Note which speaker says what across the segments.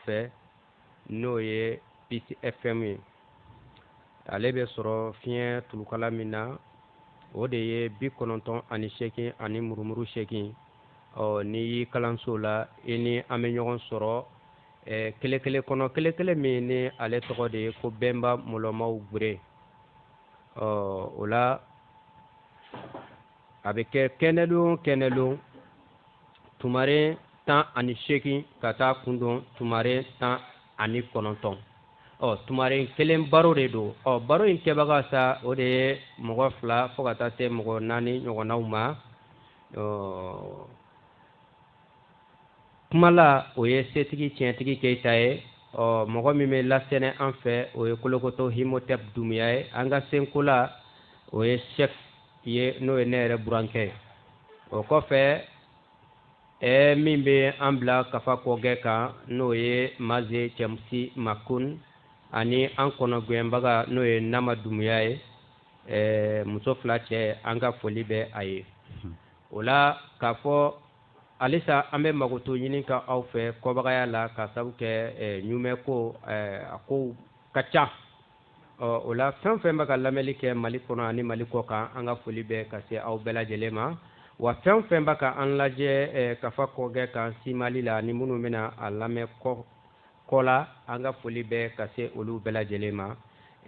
Speaker 1: fɛ n'o ye PCFM ye ale bɛ sɔrɔ fiɲɛ tulukala min na o de ye bi kɔnɔntɔn ani seegin ani murumuru seegin ɔ n'i y'i kalanso la i ni an bɛ ɲɔgɔn sɔrɔ eh, kele kele kɔnɔ kele kele min ni ale tɔgɔ de ye ko bɛnba mɔlɔmaw gwere ɔ o la a bɛ kɛ kɛnɛdon kɛnɛdon tumaren tan ani seegin ka taa kun don tumaren tan ani kɔnɔntɔn ɔ tumaren kelen baro de don ɔ baro in kɛbaga sa o de ye mɔgɔ fila fo ka taa se mɔgɔ naani ɲɔgɔnnaw ma ɔ kumala o ye setigi tiɲɛtigi keyita ye ɔ mɔgɔ min bɛ lasɛnɛ an fɛ o ye kolokoto himotɛp dumuya ye an ka senkola o ye sɛf ye n'o ye ne yɛrɛ burankɛ ye o kɔfɛ ɛɛ min bɛ an bila kafa kɔkɛ kan n'o ye maze cɛmusi makun ani an kɔnɔgɛnbaga n'o ye nama dumuya ye ɛɛ muso fila cɛ an ka foli bɛ a ye o la k'a fɔ halisa an bɛ makoto ɲininka aw fɛ kɔbagaya la k'a sababu kɛ ɲumɛ ko a kow ka ca ɔ o la fɛn o fɛn bɛ ka lamɛnni kɛ mali kɔnɔ ani mali kɔkan an ka foli bɛ ka se aw bɛɛ lajɛlen ma wa fɛn o fɛn bɛ ka an lajɛ eh, kafa kɔkɛ kan si mali la ni minnu bɛna a lamɛn kɔ kɔ la an ka foli bɛ ka se olu bɛɛ lajɛlen ma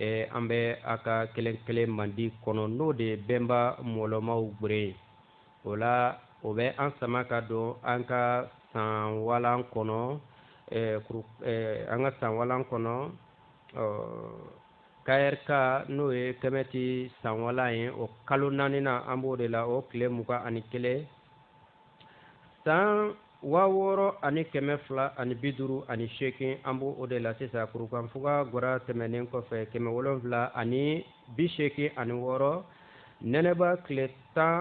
Speaker 1: eh, an bɛ a ka kele kele mandi kɔnɔ n'o de ye bɛnba mɔlɔmaw gbere ye o la o bɛ an sama ka don an ka san walan kɔnɔ eh, kuru, eh, an ka san walan kɔnɔ ɔ KRK n'o ye kɛmɛti sanwala ye o kalo naaninan an b'o de la o tile mugan ani kelen san waa wɔɔrɔ ani kɛmɛ fila ani bi duuru ani seegin an b'o o de la sisan kurukanfuga gwara tɛmɛnen kɔfɛ kɛmɛ wolonwula ani bi seegin ani wɔɔrɔ nɛnɛba tile tan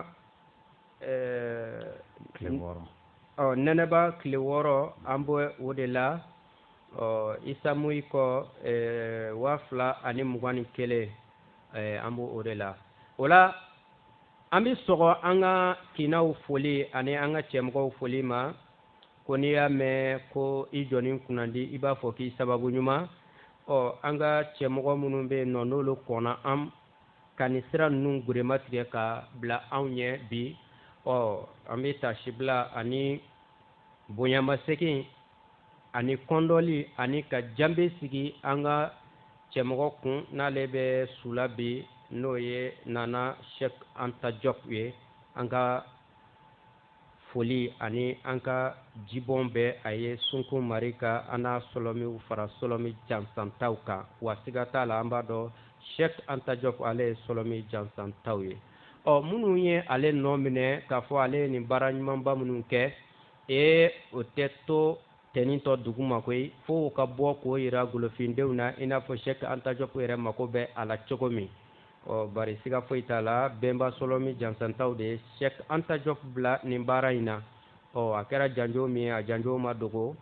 Speaker 1: ɛɛ nɛnɛba tile wɔɔrɔ an b'o o de la ɔ isa moyi kɔ eh, waa fila ani mugan ni kelen eh, an b'o o de la o la an bɛ sɔgɔ an ka kinaw foli ani an ka cɛmɔgɔw foli ma ko n'i y'a mɛn ko i jɔnnin kunnandi i b'a fɔ k'i sababu ɲuman ɔ an ka cɛmɔgɔ minnu bɛ yen nɔ n'olu kɔnna an ka nin sira ninnu geren matigɛ ka bila anw ɲɛ bi ɔ an bɛ tasibila ani bonyamasegin ani kɔndɔli ani ka janbe sigi an ka cɛmɔgɔ kun n'ale bɛ su la bi n'o ye nana shɛk anta jɔp ye an ka foli ani an ka jibɔn bɛ a ye sunkun mari ka an n'a sɔlɔmiw fara sɔlɔmi jansantaw kan wa siga t'a la an b'a dɔn shɛk anta jɔp ale ye sɔlɔmi jansantaw ye ɔ minnu ye ale nɔ minɛ k'a fɔ ale ye nin baara ɲumanba minnu kɛ ee o tɛ to tɛnintɔ dugu ma koyi fo u ka bɔ k'o yira golofindenw na i n'a fɔ sɛki anta jɔpu yɛrɛ mako bɛ a la cogo min ɔ bari siga foyi t'a la bɛnba sɔlɔmi jansantaw de ye sɛki anta jɔpu bila nin baara in na ɔ a kɛra janjo min ye a janjo ma dogo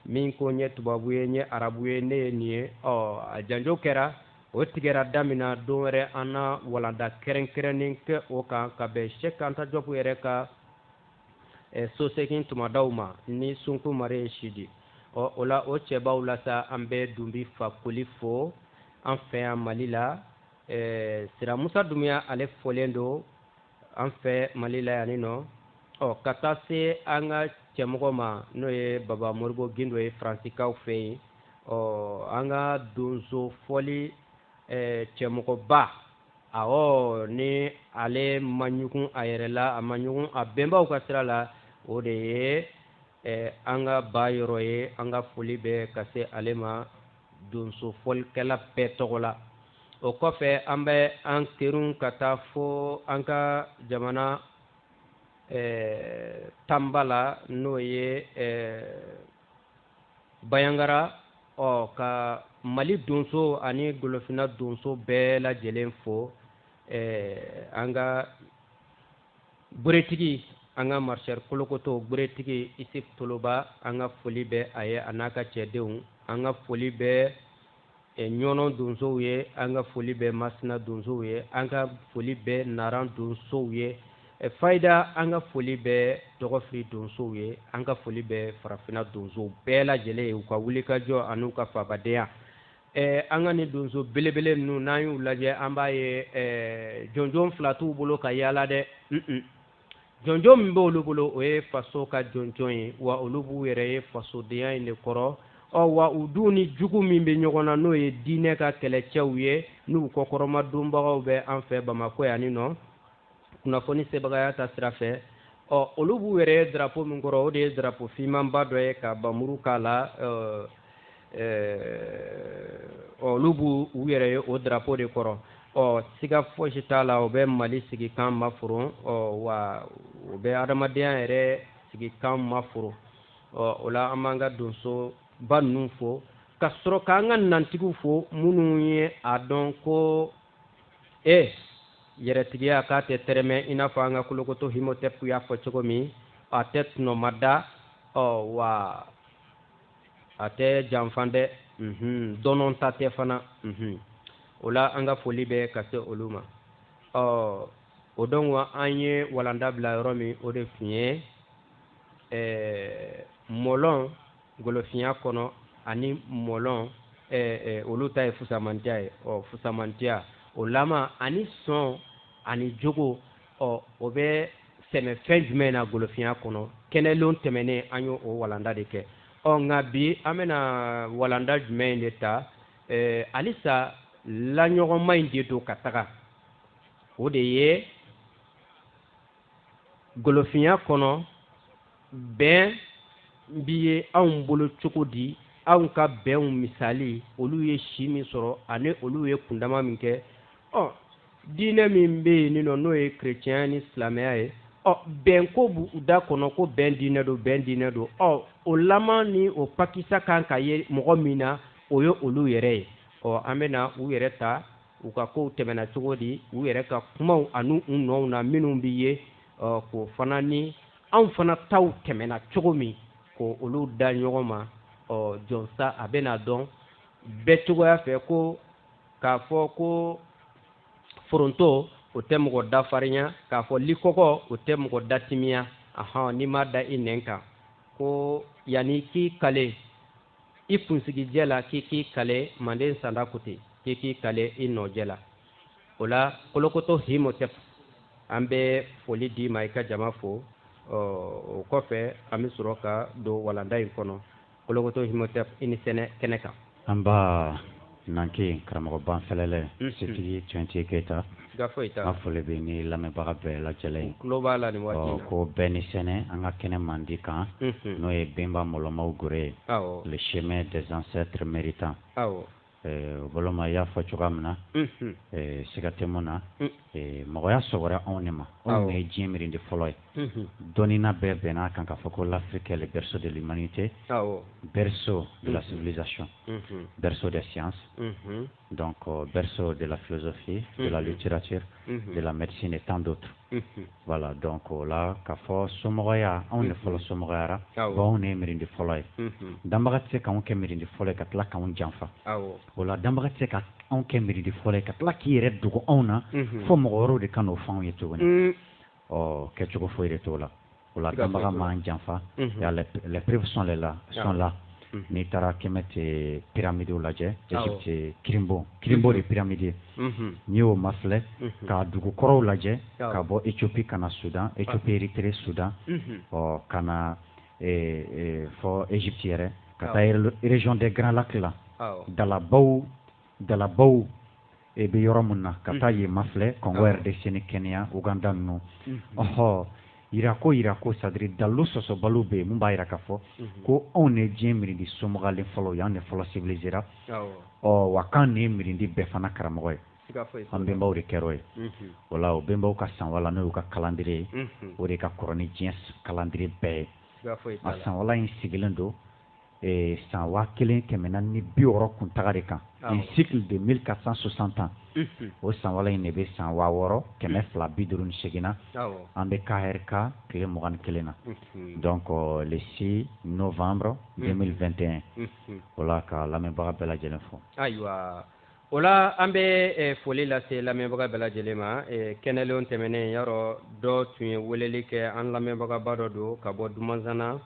Speaker 1: min ko n ye tubabu ye n ye arabu ye ne ye nin ye ɔ a janjo kɛra o tigɛra damina don wɛrɛ an na walanda kɛrɛnkɛrɛnnen kɛ o kan ka bɛn sɛk anta jɔpu yɛrɛ ka eh, sosegin tumadaw ma ni sunku mari ye sidi ɔ o la o cɛbaw la sa an bɛ dunbi fakoli fo an fɛ yan mali la eh, sira musa dumuya ale fɔlen don an fɛ mali la yan nin nɔ ɔ ka taa se an ka cɛmɔgɔ ma n'o ye baba moribo gindo ye faransikaw fɛ yen ɔ an ka donso fɔli cɛmɔgɔba awɔ ni ale ma ɲugun a yɛrɛ la a ma ɲugun a bɛnbaw ka sira la o de ye an ka ba yɔrɔ ye an ka foli bɛ ka se ale ma donso fɔlikɛla bɛɛ tɔgɔ la o kɔfɛ an bɛ an terun ka taa fo an ka jamana eh, tanba la n'o ye eh, banjagara ɔ ka mali donso ani golofina donso bɛɛ lajɛlen fo eh, an ka Gberetigi an ka Maréchal Kolokoto Gberetigi Isuf Toloba an ka foli bɛ a ye a n'a ka cɛdenw an ka foli bɛ eh, Ɲɔnɔn donsow ye an ka foli bɛ Masina donsow ye an ka foli bɛ Nara donsow ye eh, Fayida an ka foli bɛ Dɔgɔfiri donsow ye an ka foli bɛ Farafina donsow bɛɛ lajɛlen ye u ka wulikajɔ an'u ka faabadenya Ɛɛ an ka ni donso belebele ninnu n'an y'u lajɛ an b'a ye ɛɛ jɔnjɔn fila t'u bolo ka yaala dɛ jɔnjɔn min b'olu bolo o ye faso ka jɔnjɔn ye wa olu b'u yɛrɛ ye fasodenya in de kɔrɔ ɔ wa u dun ni jugu min bɛ ɲɔgɔn na n'o ye diinɛ ka kɛlɛcɛw ye n'u kɔkɔrɔmadonbagaw bɛ an fɛ bamakɔ yan nin nɔ kunnafoni sebagaya ta sira fɛ ɔ olu b'u yɛrɛ ye drapo min kɔrɔ o de ye drapo fimanba dɔ ye ka bamuru k'a la olu b'u yɛrɛ ye o drapo de kɔrɔ ɔ siga fosi t'a la o bɛ mali sigikan maforon ɔ wa o bɛ adamadenya yɛrɛ sigikan maforon ɔ o la an b'an ka donsoba ninnu fo ka sɔrɔ k'an ka nantigiw fo minnu ye a dɔn ko e yɛrɛtigiya k'a tɛ tɛrɛmɛ i n'a fɔ an ka kolokoto himotep y'a fɔ cogo min a tɛ tɔnɔmada ɔ wa a tɛ janfa dɛ mhm, dɔnɔnta tɛ fana mhm. o la an ka foli bɛ ka se olu ma ɔ o dɔn wa an ye walanda bila yɔrɔ min o de tun ye ɛɛ mɔlɔn golofinya kɔnɔ ani mɔlɔn olu ta ye fusamantiya ye ɔ fusamantiya o lama ani sɔn ani jogo ɔ o bɛ sɛmɛ fɛn jumɛn na golofinya kɔnɔ kɛnɛlon tɛmɛnen an y'o o walanda de kɛ ɔ nka bi an bɛna walanda jumɛn in de ta halisa laɲɔgɔnma in de don ka taga o de ye golofinya kɔnɔ bɛn bi ye anw bolo cogo di anw ka bɛnw misali olu ye si min sɔrɔ ani olu ye kundama min kɛ ɔ diinɛ min bɛ yen nɔ n'o ye kerecɛnya ni silamɛya ye ɔ bɛn ko b'u da kɔnɔ ko bɛn diinɛ don bɛn diinɛ don ɔ o laman ni o pakisa kan ka ye mɔgɔ min na o ye olu yɛrɛ ye ɔ an bɛ na u yɛrɛ ta u ka kow tɛmɛna cogo di u yɛrɛ ka kumaw ani u nɔw na minnu bɛ yen k'o fana ni anw fana taw tɛmɛna cogo min k'olu da ɲɔgɔn ma ɔ jɔnsa a bɛna dɔn bɛɛ cogoya fɛ ko k'a fɔ ko foronto o tɛ mɔgɔ da farinya k'a fɔ likɔgɔ o tɛ mɔgɔ da timiya ahɔn n'i m'a da i nɛn kan ko yanni k'i kale i kunsigi jɛ la k'i k'i kale manden sanda ko ten k'i k'i kale i nɔ jɛ la o la kolokoto himotep an bɛ foli d'i ma i ka jama fo o kɔfɛ an bɛ sɔrɔ ka don walanda in kɔnɔ kolokoto himotep i ni sɛnɛ kɛnɛ kan nba Nanke karamɔgɔ banfele setigi keyita an foli bɛ ni lamɛnbaga bɛɛ lajɛlen ye ko bɛɛ ni sɛnɛ an ka kɛnɛ mandi kan n'o ye bɛnba mɔlɔnmaw gɛrɛ ye le chemin des ancêtres méritants balima y'a fɔ cogoya min na siga tɛ min na mɔgɔya sɔrɔla anw de ma anw ye diɲɛ mirindi fɔlɔ ye dɔnnina bɛɛ bɛnna a kan k'a fɔ ko l'Afrique est le berceau de l'humanité berceau de la civilisation berceau des sciences donc berceau de la philosophie de la littérature de la médecine et tant d'autres voilà donc o la k'a fɔ somɔgɔya anw de fɔlɔ somɔgɔyara anw de ye miiridi fɔlɔ ye danbaga tɛ se k'an kɛ miiridi fɔlɔ ye ka tila k'an janfa o la danbaga tɛ se ka anw kɛ miiridi fɔlɔ ye ka tila k'i yɛrɛ dogo anw na fo mɔgɔ wɛrɛw de ka n'o fɔ anw ye cogo ɔ kɛcogo foyi de t'o la o la danbaga m'an janfa les preuves sont là sont là n'i taara Kemet pyramides lajɛ Egypte kirinbon kirinbon de ye pyramide ye n'i y'o mafilɛ ka dugu kɔrɔw lajɛ ka bɔ Ethiopie ka na Soudan Ethiopie Erythrée Soudan ɔ ka na fo Egypte yɛrɛ ka taa région des grands lacs la dalabaw dalabaw e bɛ yɔrɔ min na ka taa yen mafilɛ Congo RDC ni Kenya Ouganda ninnu ɔhɔ jirako jirako c'est-à-dire dalilu sɔsɔbaliw bɛ yen min b'a jira k'a fɔ ko anw de diɲɛ miiridi somɔgɔlen fɔlɔ ye an de fɔlɔ sivilizera ɔ wa k'an de ye miiridi bɛɛ fana karamɔgɔ ye an bɛnbaw de kɛra o ye voilà o bɛnbaw ka sanwala n'o y'u ka kalandire ye o de ka kɔrɔ ni diɲɛ kalandire bɛɛ ye a sanwala in sigilen don san waa kelen kɛmɛ naani bi wɔɔrɔ kuntaga de kan un cycle de mille quatre cent soixante ans o sanwala in de bɛ san waa wɔɔrɔ kɛmɛ fila bi duuru ni segin na an bɛ kahɛrika tile mugan ni kelen na donc le six novembre deux mille vingt et un o la ka lamɛnbaga bɛɛ lajɛlen fo ayiwa o la an bɛ foli lase lamɛnbaga bɛɛ lajɛlen ma kɛnɛlen tɛmɛnen yɔrɔ dɔ tun ye weleli kɛ an lamɛnbagaba dɔ don ka bɔ dumanzana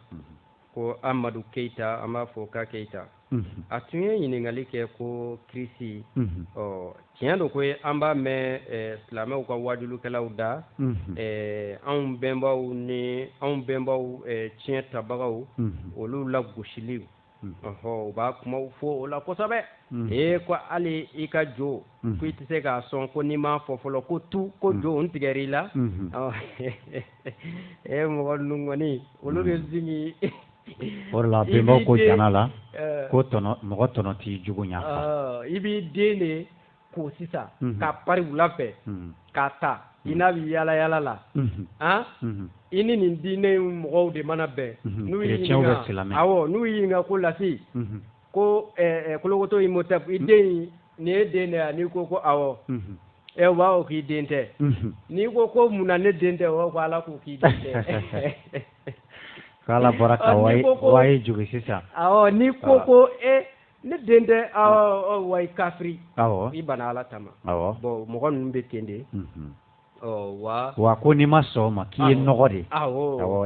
Speaker 1: ko amadu keyita an b'a fo ka keyita a tun ye ɲininkali kɛ ko kirisi ɔ tiɲɛ don ko ye an b'a mɛn silamɛw ka waajulikɛlaw da anw bɛnbaw ni anw bɛnbaw tiɲɛtabagaw olu lagosili u b'a kuma fɔ o la kosɛbɛ ee ko hali i ka jo ko i tɛ se k'a sɔn ko n'i m'a fɔ fɔlɔ ko tu ko jo tigɛ i la e mɔgɔ nunɔni olu bɛ zimi o la bɛnbaw ko jana la ko tɔnɔ mɔgɔ tɔnɔ t'i jugu ɲa i b'i den de ko sisan k'a pari wula fɛ k'a ta i n'a bɛ yaala yaala la an i ni nin diinɛ mɔgɔw de mana bɛn n'u y'i ɲininka awɔ n'u y'i ɲininka ko lafin ko kolokoto i mota i den nin ye den de yan n'i ko ko awɔ ɛ b'a k'i den tɛ n'i ko ko mun na ne den tɛ ko ala ko k'i den tɛ ala bɔra ye juru sisan n'i ko ko e ne den tɛ wa kafiri i banna ala kama mɔgɔ ninnu bɛ ten de wa ko n'i ma sɔn ma k'i ye nɔgɔ de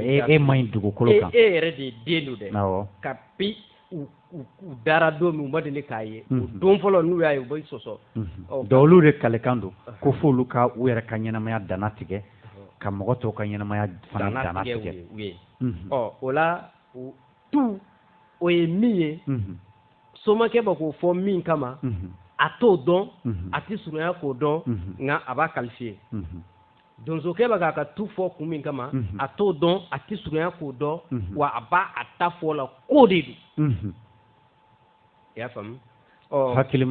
Speaker 1: ye e man ɲi dugukolo kan e yɛrɛ de ye den don dɛ kabi u dara don min u ma deli k'a ye don fɔlɔ n'u y'a ye u bɛ sɔsɔ dɔw olu de kalikan don ko fo olu ka u yɛrɛ ka ɲɛnamaya dantigɛ ka mɔgɔ tɔw ka ɲɛnamaya fana dantigɛ u ye ɔ o la tu o ye min ye somakɛ bɛ k'o fɔ min kama a t'o dɔn a tɛ surunya k'o dɔn nka a b'a kalifiye donsokɛ bɛ k'a ka tu fɔ kun min kama a t'o dɔn a tɛ surunya k'o dɔn wa a b'a a ta fɔ la ko de don i y'a faamu hakili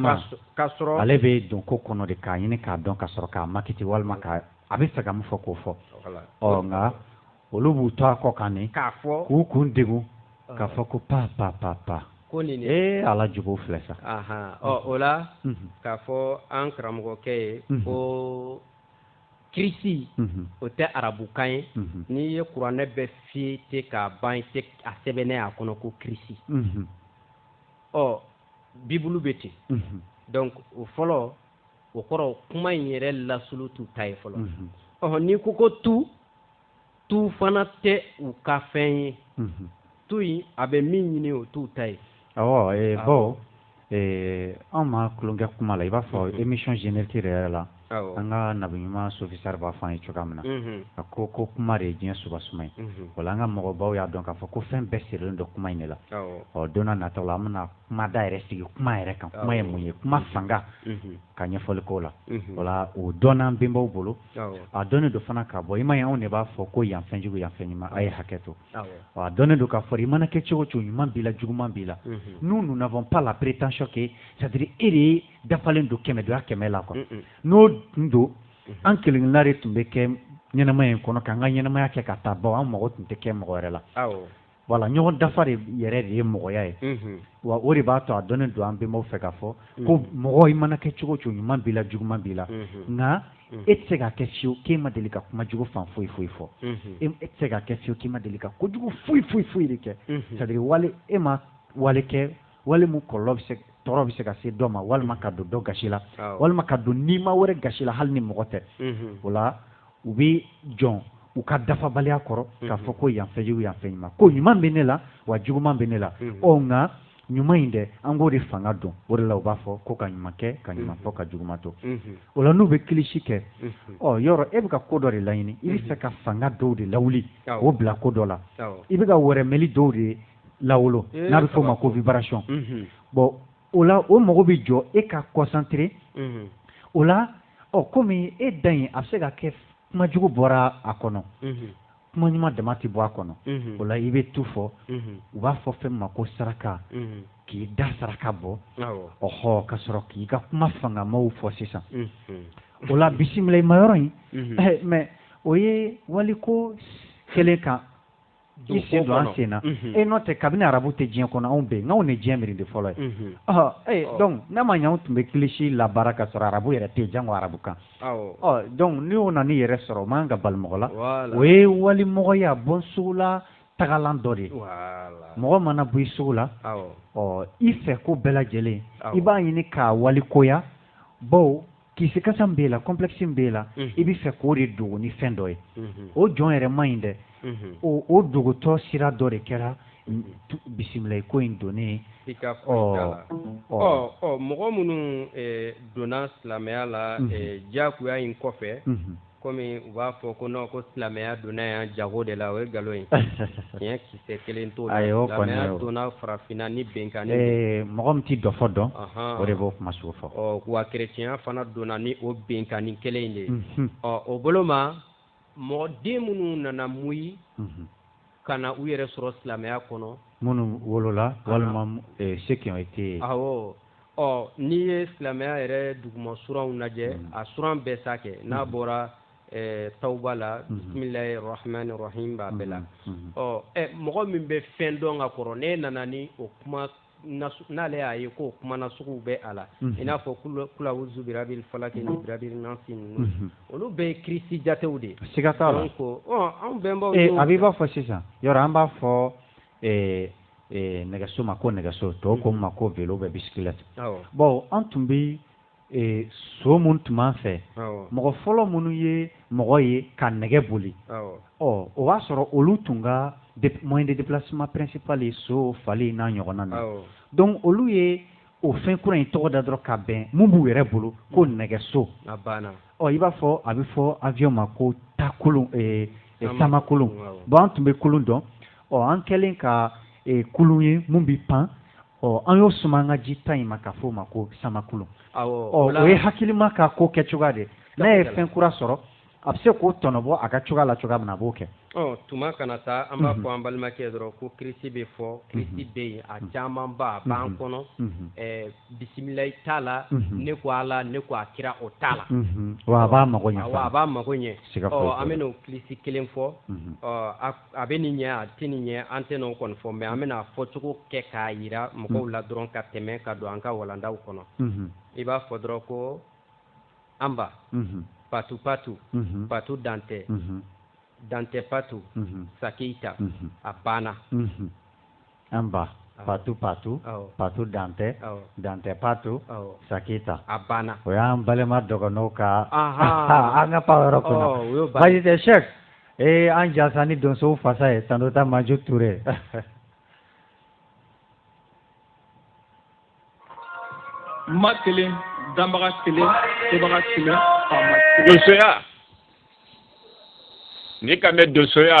Speaker 1: k'a sɔrɔ ale bɛ don ko kɔnɔ de k'a ɲini k'a dɔn ka sɔrɔ k'a makiti walima a b'a fɛ ka min fɔ k'o fɔ ɔ nka olu b'u to a kɔ kan de k'a fɔ k'u kun degun k'a fɔ ko pa pa pa pa ko nin de ee ala jugu filɛ sa ahan ɔ o la Mhm, k'a fɔ an karamɔgɔkɛ ye Mhm. ko kirisi mhm, o tɛ arabukan ye mhm, n'i ye kuranɛ bɛɛ fiyete k'a ban i tɛ a sɛbɛnnen ye a kɔnɔ ko kirisi mhm, ɔ bibulu bɛ ten mhm, donc o fɔlɔ o kɔrɔ kuma in yɛrɛ lasili t'u ta ye fɔlɔ mhm. ɔhɔ n'i ko ko tu tu fana tɛ u ka fɛn ye tu in a bɛ min ɲini o t'u ta ye bawo anw ma tulon kɛ kuma la i b'a fɔ émission générique yɛrɛ la an ka nabi ɲuman sofisari b'a fɔ an ye cogoya min na a ko ko kuma de ye diɲɛ suba suma ye wala an ka mɔgɔbaw y'a dɔn k'a fɔ ko fɛn bɛɛ sirilen don kuma in de la ɔ don nataw an bɛna kuma da yɛrɛ sigi kuma yɛrɛ kan kuma ye mun ye kuma fanga ka ɲɛfɔli ko la wala o dɔnna an bɛnbaw bolo a dɔnnen don fana ka bɔ i ma anw de b'a fɔ ko yan fɛnjugu yan fɛn ɲuman a ye hakɛ to a dɔnnen don k'a fɔ i mana kɛ cogo cogo ɲuman b'i la juguman b'i la nous n'avons pas la prétention que c'est à dire e de ye dafalen don kɛmɛ donya kɛmɛ la kɔnɔ n'o tun don an kelen kelenna de tun bɛ kɛ ɲɛnamaya in kɔnɔ k'an ka ɲɛnamaya kɛ ka taa bawo an mago tun tɛ kɛ mɔgɔ wɛrɛ la wala ɲɔgɔn dafa de yɛrɛ de ye mɔgɔya ye wa o de b'a to a dɔnnen don an bɛnbaw fɛ k'a fɔ ko mɔgɔ i mana kɛ cogo cogo ɲuman b'i la juguman b'i la nka e tɛ se ka kɛ fiyewu k'e ma deli ka kuma jugu fan foyi foyi fɔ e tɛ se ka kɛ fiyewu k'e ma deli ka ko jugu foyi foyi foyi de kɛ c'est à dire wale e ma wale kɛ wale min kɔlɔlɔ bɛ se tɔɔrɔ bɛ se ka se dɔ ma walima ka don dɔ gasi la walima ka don nima wɛrɛ gasi la hali ni mɔgɔ tɛ o la u bɛ jɔ u ka dafabaliya kɔrɔ k'a fɔ ko yan fɛnjugu yan fɛn ɲuman ko ɲuman bɛ ne la wa juguman bɛ ne la ɔ nka ɲuman in dɛ an k'o de fanga don o de la u b'a fɔ ko ka ɲuman kɛ ka ɲuman fɔ ka juguman to o la n'u bɛ kilisi kɛ ɔ yɔrɔ e bɛ ka ko dɔ de laɲini i b'a fɛ ka fanga dɔw de lawuli k'o bila ko dɔ la i bɛ ka wɛrɛmɛli dɔw de lawolo n'a bɛ f'o ma ko vibration bɔn o la o mago bɛ jɔ e ka concentrer o la ɔ kɔmi e da in a bɛ se ka kɛ kuma jugu bɔra a kɔnɔ kuma ɲuman dama tɛ bɔ a kɔnɔ o la i bɛ tu fɔ u b'a fɔ fɛn ma ko saraka k'i da saraka bɔ ɔɔ ka sɔrɔ k'i ka kuma fangamaw fɔ sisan o la bisimilai ma yɔrɔ in mɛ o ye waliko kɛlen kan i sen don an sen na e n'o tɛ kabini arabu tɛ diɲɛ kɔnɔ anw bɛnbaw ni diɲɛ miiri de fɔlɔ ye ee dɔnku n'a ma ɲɛ anw tun bɛ kilisi labaara ka sɔrɔ arabu yɛrɛ tɛ janko arabu kan dɔnku ni o nan'i yɛrɛ sɔrɔ o man kan ka bala mɔgɔ la o ye walimɔgɔya bɔ sogo la tagalan dɔ de ye mɔgɔ mana bɔ i sogo la ɔ i fɛ ko bɛɛ lajɛlen i b'a ɲini k'a walikoya bawo kisikasa min b'e la complexe min b'e la i bɛ fɛ k'o de dogo ni fɛn dɔ ye o jɔn yɛrɛ man ɲi dɛ o o dogotɔ sira dɔ de kɛra bisimilai ko in donnen i ka la ɔ mɔgɔ minnu donna silamɛya la diyagoya in kɔfɛ kɔmi u b'a fɔ ko nɔn ko silamɛya donna yan jago de la o ye nkalon ye tiɲɛ kisɛ kelen t'o silamɛya donna farafinna ni binkanni de mɔgɔ min tɛ dɔfɔ dɔn o de b'o kuma sugu fɔ wa kɛrɛtiɲɛya fana donna ni o binkanni kelen in de ye ɔ o bolo ma mɔgɔ den minnu nana mɔ yen ka na u yɛrɛ sɔrɔ silamɛya kɔnɔ minnu wolola walima eh, seginkɔ tɛ yen awɔ ɔ n'i ye silamɛya yɛrɛ duguma suranw lajɛ hmm. a suran bɛɛ sa kɛ n'a hmm. bɔra eh, tawuba la hmm. bisimilahi rahmani rahim b'a bɛɛ la ɔ eh, mɔgɔ min bɛ fɛn dɔn ka kɔrɔ n'e nana ni o kuma n'ale y'a ye ko kuma nasuguw bɛ a la i n'a fɔ kulazu bira falaki ni bira nasi ninnu olu bɛɛ ye kirisi jatew de siga t'a la ko anw bɛnbaw a b'i b'a fɔ sisan yɔrɔ an b'a fɔ nɛgɛso ma ko nɛgɛso tɔw k'o ma ko vélo bɛ bicyclette bon an tun bɛ ee so mun tun b'an fɛ mɔgɔ fɔlɔ minnu ye mɔgɔ ye ka nɛgɛ boli ɔ o b'a sɔrɔ olu tun ka moyen de déplacement principal ye so fali n'a ɲɔgɔnna na donc olu ye o fɛn kura in tɔgɔ da dɔrɔn ka bɛn mun b'u yɛrɛ bolo ko mm. nɛgɛso ɔ i b'a fɔ a bɛ fɔ avion ma ko sankulun eh, eh, samakulun bon an tun bɛ kulun dɔn ɔ an kɛlen ka eh, kulun ye mun bɛ pan ɔ an y'o suma an ka ji ta in ma ka fɔ o ma ko samakulun o ye hakilima ka ko kɛ cogoya de n'a ye fɛn kura sɔrɔ a bɛ se k'o tɔnɔbɔ a ka cogoya la cogoya min na a b'o kɛ tuma kana taa an b'a fɔ an balimakɛ dɔrɔn ko kirisi bɛ fɔ kirisi bɛ yen a camanba a b'an kɔnɔ bisimilai t'a la ne ko ala ne ko a kira o t'a la a b'a mago a b'a mago ɲɛ an bɛ n'o kirisi kelen fɔ a bɛ nin ɲɛ a tɛ nin ɲɛ an tɛn'o kɔni fɔ mais an bɛna a fɔcogo kɛ k'a yira mɔgɔw la dɔrɔn ka tɛmɛ ka don an ka walandaw kɔnɔ i b'a fɔ dɔrɔn ko anba patu patu patu dantɛ dantɛ patu sakeyita a banna an ba patu patu patu dantɛ dantɛ patu saki ta a banna o y'an balima dɔgɔnɔw ka an ka pan yɔrɔ kɔnɔ baasi tɛ sɛki ee an jasa ni donsow fasa ye tantɔ taa maju tuure ma kelen danbaga kelen sebaga kelen faama kelen donsoya n'i k'a mɛn donsoya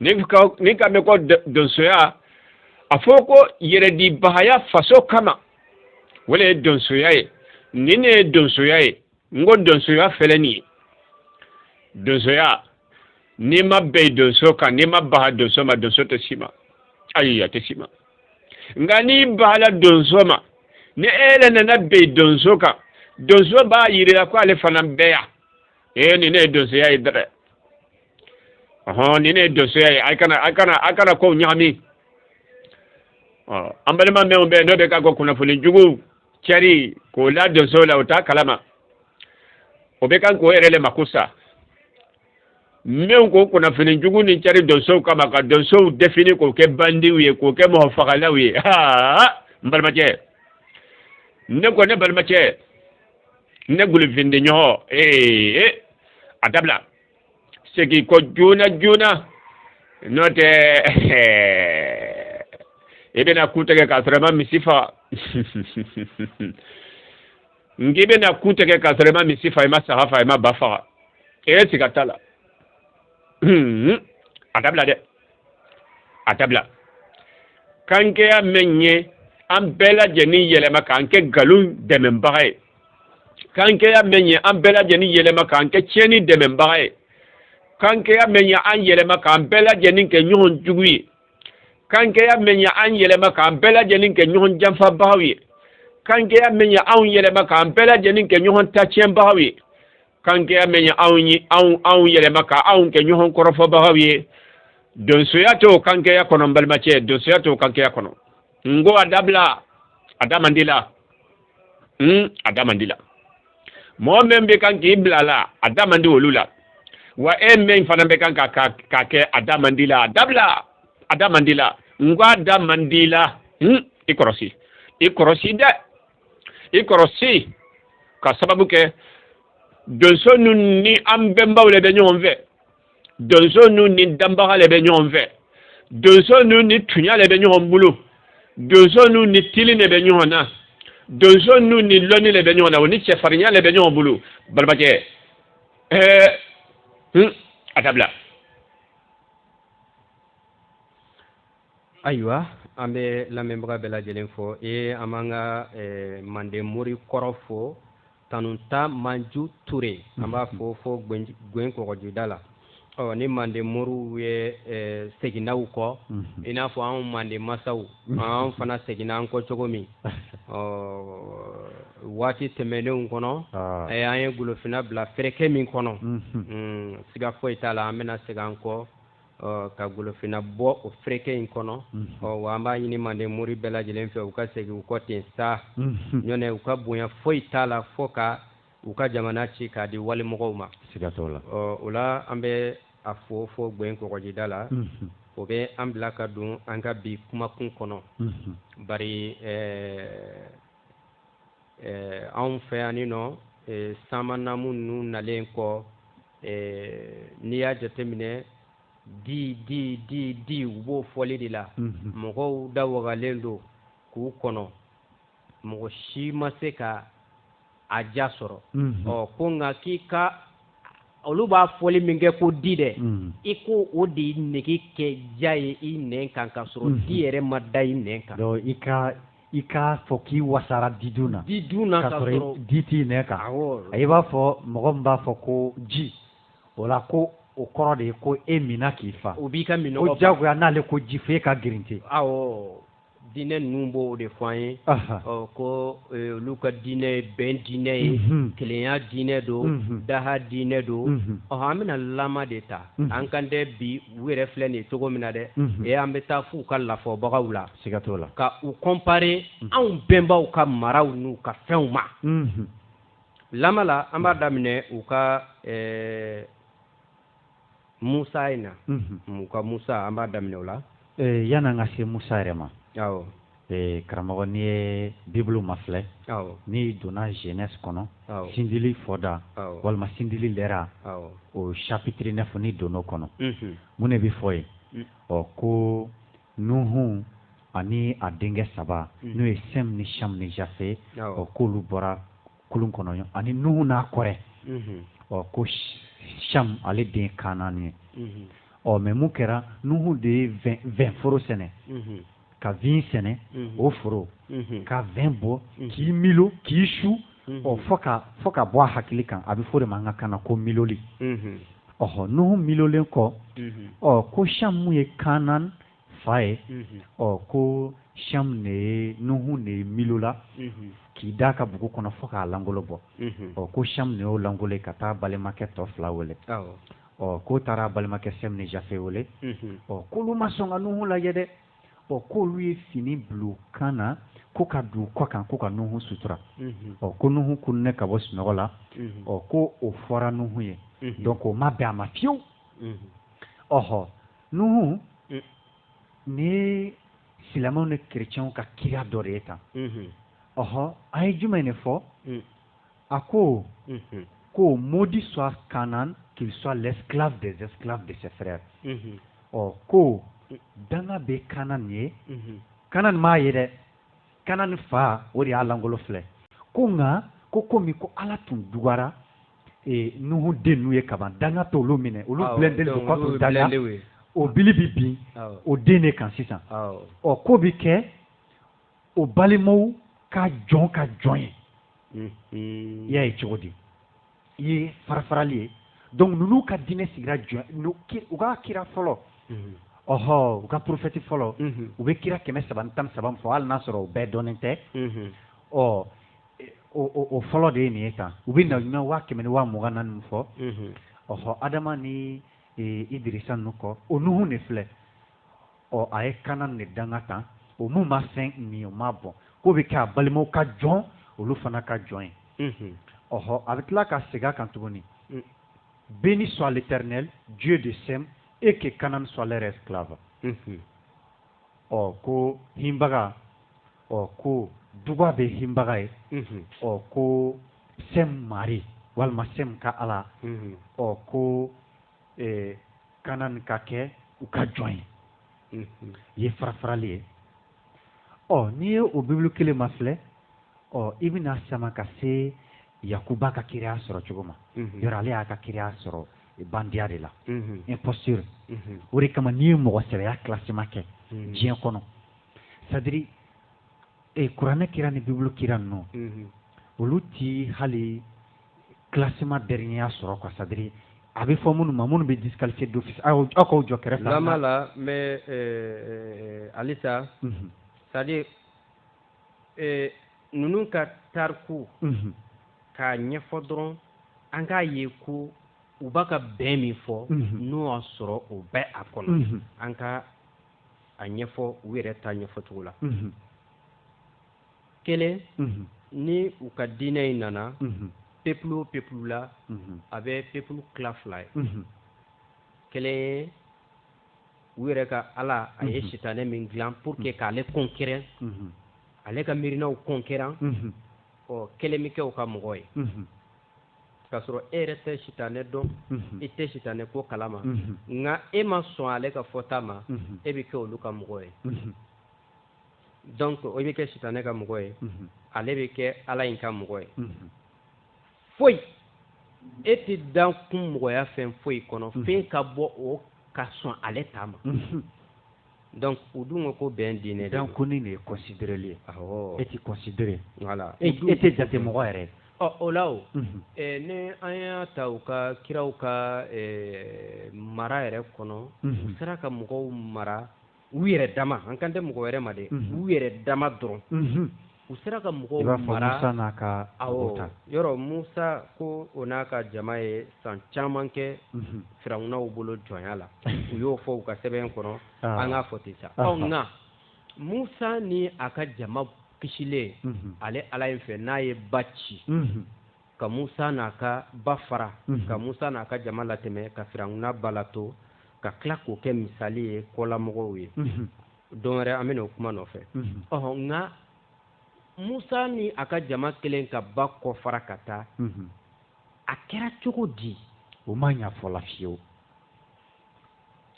Speaker 1: n'i k'a n'i k'a mɛn ko donsoya a fɔ ko yɛrɛdibagaya faso kama o de ye donsoya ye nin ne ye donsoya ye n ko donsoya fɛlɛ nin ye donsoya n'i ma bɛn donso kan n'i ma baga donso ma donso tɛ s'i ma ayi a tɛ s'i ma nka n'i bagala donso ma ni e yɛrɛ nana bɛn donso kan donso b'a yir'i la ko ale fana bɛ yan ee nin ne ye donsoya ye dɛ ɔhɔn nin ne ye donsoya ye a kana a kana a kana kow ɲagami ɔ an balima mɛnw bɛ n'o de ka ko kunnafoni jugu cɛri k'o la donso la o t'a kalama o bɛ kan k'o yɛrɛ le mako sa mɛnw ko kunnafoni jugu nin cɛri donsow kama ka donsow defini k'o kɛ bandiw ye k'o kɛ mɔgɔ fagalaw ye aa n balimacɛ ne ko ne balimacɛ ne gulifindi ɲɔgɔn ee a dabila segi i kɔ joona joona n'o tɛ i bɛna ku tigɛ k'a sɔrɔ i ma misi faga n k'i bɛna ku tigɛ k'a sɔrɔ i ma misi faga i ma saga faga i ma ba faga e siga t'a la a dabila dɛ a dabila kankɛya mɛn ye an bɛɛ lajɛlen yɛlɛma k'an kɛ nkalon dɛmɛbaga ye kankɛya mɛn ye an bɛɛ lajɛlen yɛlɛma k'an kɛ tiɲɛni dɛmɛbaga ye kankɛya mɛn ye an yɛlɛma k'an bɛɛ lajɛlen kɛ ɲɔgɔn jugu ye kankɛya mɛn ye an yɛlɛma k'an bɛɛ lajɛlen kɛ ɲɔgɔn janfabagaw ye kankɛya mɛn ye anw yɛlɛma k'an bɛɛ lajɛlen kɛ ɲɔgɔn tacɛnbagaw ye kankɛya mɛn ye anw ye anw anw yɛlɛma ka anw kɛ ɲɔgɔn kɔrɔfɔbagaw ye donsoya t'o kankɛya kɔnɔ n balimacɛ donsoya t'o kankɛya kɔnɔ n ko a dabila a da man d'i la n a da man d'i la mɔgɔ min bɛ kan k'i bila a la a da man di olu la wa e min fana bɛ kan ka ka k'a kɛ a da man d'i la a dabila a da man d'i la n ko a da man d'i la n i kɔrɔsi i kɔrɔsi dɛ i kɔrɔsi ka sababu kɛ donso ninnu ni an bɛnbaw de bɛ ɲɔgɔn fɛ donso ninnu ni danbaga de bɛ ɲɔgɔn fɛ donso ninnu ni tunya de bɛ ɲɔgɔn bolo donso ninnu ni tilen de bɛ ɲɔgɔn na donso ninnu ni lɔnni de bɛ ɲɔgɔn na o ni cɛfarinya de bɛ ɲɔgɔn bolo balabakɛ ɛɛ a dabila ayiwa an bɛ lamɛnbaga bɛɛ lajɛlen fo ee an b'an ka eh, manden mori kɔrɔ fo tanuta manju ture an b'a fo fo gwen kɔgɔjida la ɔ ni manden moriw ye eh, seginna u kɔ mhm. i n'a fɔ anw manden masaw mhm. an fana seginna an kɔ cogo min ɔ waati tɛmɛnenw kɔnɔ ah. eh, an ye golofinna bila fereke min kɔnɔ mhm. mm, siga foyi t'a la an bɛna segin an kɔ ka golofinna bɔ o fereke in kɔnɔ wa an b'a ɲini manden mori bɛɛ lajɛlen fɛ u ka segin u kɔ ten sa nɔntɛ u ka bonya foyi t'a la fɔ ka u ka jamana ci k'a di walimɔgɔw ma la o la an bɛ a fo fɔ gɛn kɔgɔjida la o bɛ an bila ka don an ka bi kumakun kɔnɔ ba eh, anw fɛ yan nɔ eh, samanamu ninnu nalen kɔ eh, n'i y'a jateminɛ di di di di u b'o fɔli de la mm -hmm. mɔgɔw da wagalen don k'u kɔnɔ mɔgɔ si ma se ka a ja sɔrɔ mm -hmm. ɔ ko nka k'i ka olu b'a fɔli min kɛ ko di dɛ mm. i ko o de nege kɛ ja ye i nɛn kan ka sɔrɔ mm. di yɛrɛ ma da i nɛn kan i ka i k'a fɔ k'i wasara di dun na di dun na ka sɔrɔ di t'i nɛn kan i b'a fɔ mɔgɔ min b'a fɔ ko ji o la ko o kɔrɔ de ye ko e minna k'i fa o b'i ka minnɔgɔ juguya n'ale ko ji f'e ka girinte awɔ diinɛ ninnu b'o de fɔ an ye ko e, olu ka diinɛ ye bɛn diinɛ ye mhm. kelenya diinɛ don mhm. daha diinɛ don mhm. ɔhɔn an bɛna lama de ta an kan dɛ bi u yɛrɛ filɛ nin ye cogo min na dɛ ee an bɛ taa f'u ka lafɔbagaw la siga t'o la ka u comparer unhun, anw bɛnbaw ka maraw n'u ka fɛnw ma unhun, lama la an b'a daminɛ u ka ɛɛ Musa in na unhun, u ka Musa an b'a daminɛ o la ee yan'an ka se Musa yɛrɛ ma awɔ ee karamɔgɔ n'i ye Bible mafilɛ awɔ n'i donna Genèse kɔnɔ awɔ sindili fɔda awɔ walima sindili lɛra awɔ o chapitre 9 n'i donn'o kɔnɔ unhun, mun de bɛ fɔ yen ɔ ko Nuhun ani a denkɛ saba hmm. n'o ye sɛm ni cham ni jafe ɔ k'olu bɔra kulun kɔnɔ ani nuhu n'a kɔrɛ hmm. ɔ ko cham ale den kanan ye hmm. ɔ mais mun kɛra nuhu de ye vin foro sɛnɛ ka vin sɛnɛ o foro ka vin bɔ k'i milo k'i su ɔ fo ka fo ka bɔ a hakili kan a bɛ fɔ o de ma an ka kan na ko miloli ɔhɔ nuhu milolen kɔ ɔ ko cham min ye kanan fa ye ɔ ko cham ne ye nuhu ne ye milola k'i da a ka bugu kɔnɔ fo k'a langolo bɔ ɔ ko cham ne y'o langolo ye ka taa balimakɛ tɔ fila wele ɔ k'o taara balimakɛ sɛm ni jafe wele ɔ k'olu ma sɔn ka nuhu lajɛ dɛ ɔ k'olu ye fini bil'u kan na ko ka don u kɔ kan ko ka nuhu sutura mhm. ɔ ko nuhu kununen ka bɔ sunɔgɔ la mhm. ɔ ko o fɔra nuhu ye mhm. donc o ma bɛn a ma fiyewu ɔhɔ nuhu mm. nin ye silamɛw ni kerecɛnw ka kira dɔ de ye tan ɔhɔ an ye jumɛn de fɔ mm. a ko ko maudit soit kanan qu'il soit l'esclave des esclaves de ses frères ɔ ko danga bɛ kanan ye kanan m'a ye dɛ kanan fa o de y'a lankolon filɛ ko nka ko komi ko ala tun dugara nuhu den ninnu ye kaban danga t'olu minɛ olu danga o bi bɛ bin o den de kan sisan ɔ k'o bɛ kɛ o balimaw ka jɔn ka jɔn ye i y'a ye cogo di i ye farafarali ye donc ninnu ka diinɛ sigira jɔn u ka kira fɔlɔ ɔhɔ u ka porofɛti fɔlɔ u bɛ kira kɛmɛ saba ni tan saba min fɔ hali n'a sɔrɔ u bɛɛ dɔnnen tɛ ɔ o fɔlɔ de ye nin ye tan u bɛ nabiɲuman waa kɛmɛ ni waa mugan ni naani min fɔ ɔhɔ adama ni idirisa ninnu kɔ o nuhun de filɛ ɔ a ye kanan ne danga tan o mun ma fɛn min o ma bɔn k'o bɛ kɛ a balimaw ka jɔn olu fana ka jɔn ye ɔhɔ a bɛ tila ka segin a kan tuguni mm. béni soit l'éternel dieu de sem et que kanan soit leur esclave ɔ ko hinbaga ɔ ko duga bɛ hinbaga ye ɔ ko sɛm mari walima sɛm ka ala ɔ ko ɛɛ kanan ka kɛ u ka jɔn ye mhm. ye farafarali ye ɔ n'i ye o bibulu kelen mafilɛ ɔ i bɛna sama ka se yakuba ka kiraya sɔrɔ cogo ma mhm. yɔrɔ ale y'a ka kiraya sɔrɔ bandiya de la mhm. imposture o de kama n'i ye mɔgɔ sɛbɛya classement kɛ diɲɛ kɔnɔ c'est-à-dire kuranɛ kira ni bibulu kira ninnu olu ti hali classement dernier sɔrɔ quoi c'est à dire a bɛ fɔ minnu ma minnu bɛ disqualifié d'office aw aw k'aw jɔ kɛrɛfɛ. lama la n bɛ halisa. Mhm. c'est à dire eh, ninnu ka tariku. Mhm. k'a ɲɛfɔ dɔrɔn an k'a ye ko u bɛ ka bɛn min fɔ. Mhm. n'o y'a sɔrɔ o bɛ a kɔnɔ. an ka a ɲɛfɔ u yɛrɛ ta ɲɛfɔ cogo la. kelen ni u ka diinɛ in nana peuple o peuple la a bɛ peuple tila fila ye kelen ye u yɛrɛ ka ala a ye sitanɛ min dilan pour que k'ale concurrent ale ka miirinaw concurrent ɔ kelen bɛ kɛ o ka mɔgɔ ye k'a sɔrɔ e yɛrɛ tɛ sitanɛ dɔn e tɛ sitanɛ ko kala ma nka e ma sɔn ale ka fɔta ma e bɛ kɛ olu ka mɔgɔ ye donc o bɛ kɛ sitanɛ ka mɔgɔ ye ale bɛ kɛ ala in ka mɔgɔ ye foyi e tɛ dan kun mɔgɔya fɛn foyi kɔnɔ fɛn ka bɔ o ka sɔn ale ta ma donc u dun ko ko bɛn diinɛ don ko ni de ye considéreli ye e tɛ considérer voilà e tɛ jate mɔgɔ yɛrɛ ɔ o la o ni an y'a ta u ka kiraw ka mara yɛrɛ kɔnɔ u sera ka mɔgɔw mara u yɛrɛ dama an kan tɛ mɔgɔ wɛrɛ ma dɛ u yɛrɛ dama dɔrɔn u sera ka mɔgɔw mara musa n'a ka o yɔrɔ musa ko o n'a ka jama ye san caman kɛ firawunaw bolo jɔnya la u y'o fɔ u ka sɛbɛn kɔnɔ an k'a fɔ ten sa nka musa ni a ka jama kisilen ale ala in fɛ n'a ye ba ci ka musa n'a ka ba fara ka musa n'a ka jama latɛmɛ ka firawuna ba la to ka tila k'o kɛ misali ye kɔlamɔgɔw ye don wɛrɛ an bɛna o kuma nɔfɛ ɔɔ nka musa ni a ka jama kɛlen ka ba kɔ fara ka taa a kɛra cogo di o ma ɲa fɔ la fiyewu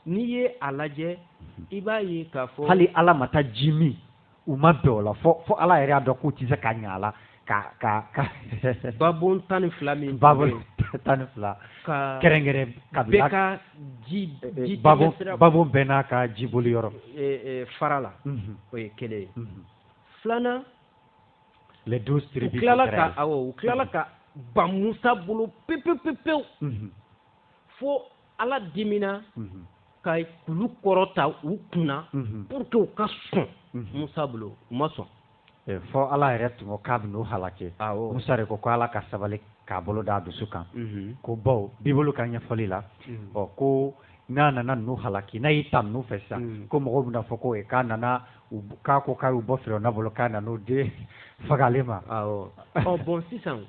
Speaker 1: n'i ye a lajɛ i b'a ye k'a fɔ hali ala ma taa ji min u ma bɛn o la fo fo ala yɛrɛ y'a dɔn k'u tɛ se ka ɲɛ a la ka ka ka babon tan ni fila min babon tan ni fila ka kɛrɛnkɛrɛn ka bɛɛ ka ji ji babon babon bɛɛ n'a ka jibɔli yɔrɔ fara la o ye kelen ye filanan les douze tribus u tilala ka awɔ u tilala ka ban Musa bolo pewu pewu pewu fo ala dimina ka kulu kɔrɔta u kunna pour que u ka sɔn musa bolo u ma sɔn eh, fo ala yɛrɛ tun k'a bɛ n'u halaki musa de ko ko ala ka sabali k'a bolo d'a dusu kan ko bawo bibulu ka ɲɛfɔli la ɔ ko n'a nana n'u halaki n'a y'i ta n'u fɛ sisan ko mɔgɔw bɛn'a fɔ ko eh, k'a nana k'a ko k'a y'u bɔ firawuna bolo k'a nan'u de faga ale ma ɔ bon sisan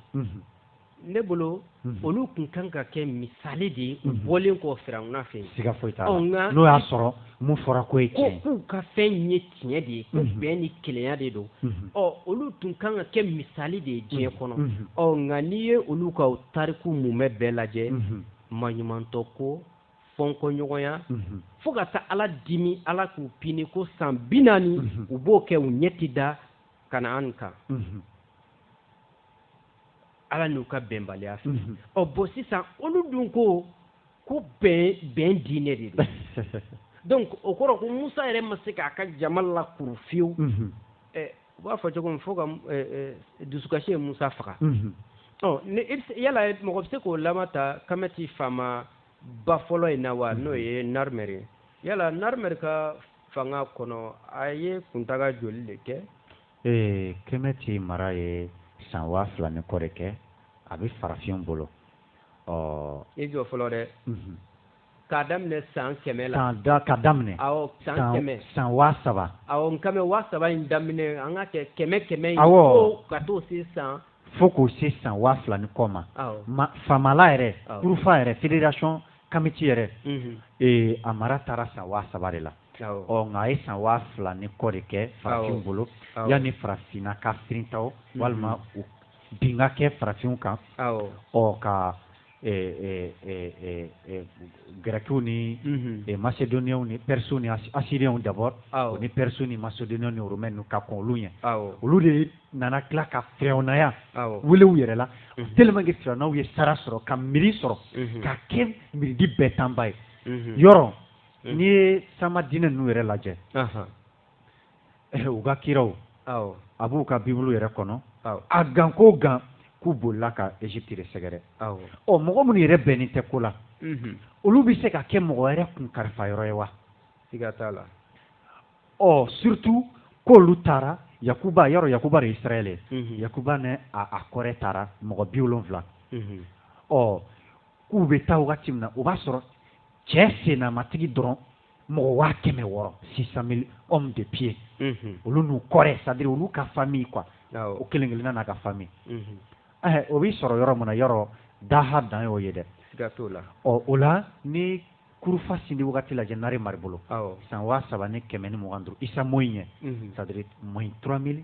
Speaker 1: ne bolo mhm. olu tun kan ka kɛ misali de ye u mhm. bɔlen kɔ firawuna fɛ siga foyi t'a la n'o y'a sɔrɔ mun fɔra ko ye tiɲɛ k'u ka fɛn ye tiɲɛ de ye ko mhm. bɛn ni kelenya de don ɔ olu tun kan ka kɛ misali de ye diɲɛ kɔnɔ ɔ nka n'i ye olu ka tariku mumɛ bɛɛ lajɛ maɲumantɔ ko fɔnkɔɲɔgɔnya fo ka taa ala dimi ala k'u pini ko san bi naani u b'o kɛ u ɲɛ tɛ da kanaan kan ala n'u ka bɛnbaliya fɛ mhm. ɔ bɔn sisan olu dun ko ko bɛn bɛn diinɛ de don donc o kɔrɔ ko musa yɛrɛ ma se k'a ka jama lakuru fewu mhm. u b'a fɔ cogo min fo ka dusukasi ye musa faga mhm. ɔ ni yala mɔgɔ bɛ se k'o lama ta kamɛti faamaba fɔlɔ in na wa n'o ye narimɛri ye yala narimɛri ka fanga kɔnɔ a ye kuntaga joli de kɛ ee kɛmɛti mara ye san waa fila ni kɔ de kɛ a bɛ farafin bolo ɔ i jɔ fɔlɔ dɛ mhm. k'a daminɛ san kɛmɛ la san da ka daminɛ awɔ san kɛmɛ san waa saba awɔ n kɛmɛ waa saba in daminɛ an ka kɛ kɛmɛ kɛmɛ in awɔ ka t'o se san fo k'o se san waa fila ni kɔ ma ma famala yɛrɛ kurufa yɛrɛ fédération kamiti yɛrɛ mhm. ee a mara taara san waa saba de la ɔ nka a ye san waa fila ni kɔ de kɛ farafinw bolo yanni farafinna ka firinta o mhm. walima u bin ka kɛ farafinw kan ɔ ka gɛrɛkiw ni mhm. masedoniyaw ni pɛrisiw ni asiriyaw dabɔ o ni pɛrisiw ni masedoniyaw ni romɛniw ka kɔn olu ɲɛ olu de nana tila ka firawunaya wele u yɛrɛ la mhm. tellement que firawunaw ye sara sɔrɔ ka miiri sɔrɔ ka kɛ miiridi bɛɛ tanba ye yɔrɔ n'i ye taama diinɛ ninnu yɛrɛ lajɛ eh, u ka kiraw a b'u ka bibulu yɛrɛ kɔnɔ a gan ko gan k'u bolila ka Égypte de sɛgɛrɛ ɔ mɔgɔ minnu yɛrɛ bɛnnen tɛ ko la mhm. olu bɛ se ka kɛ mɔgɔ wɛrɛ kun kalifa yɔrɔ ye wa siga t'a la ɔ surtout k'olu taara Yakuba yɛrɛ Yakuba de ye Israël ye mhm. Yakuba ni a kɔrɛ taara mɔgɔ bi wolonwula mhm. ɔ k'u bɛ taa wagati min na o b'a sɔrɔ cɛ sennamatigi dɔrɔn mɔgɔ waa kɛmɛ wɔɔrɔ six cent mille hommes de pied mhm. olu n'u kɔrɛ c'est-à-dire olu ka famille quoi o kelen kelenna n'a ka famille mhm. eh, o b'i sɔrɔ yɔrɔ min na yɔrɔ daha dan y'o ye dɛ ɔ o la ni kurufa sindi wagati lajɛ narimɛri bolo san waa saba ni kɛmɛ ni mugan duuru isa moyi ɲɛ mhm. c'est-à-dire moins trois mille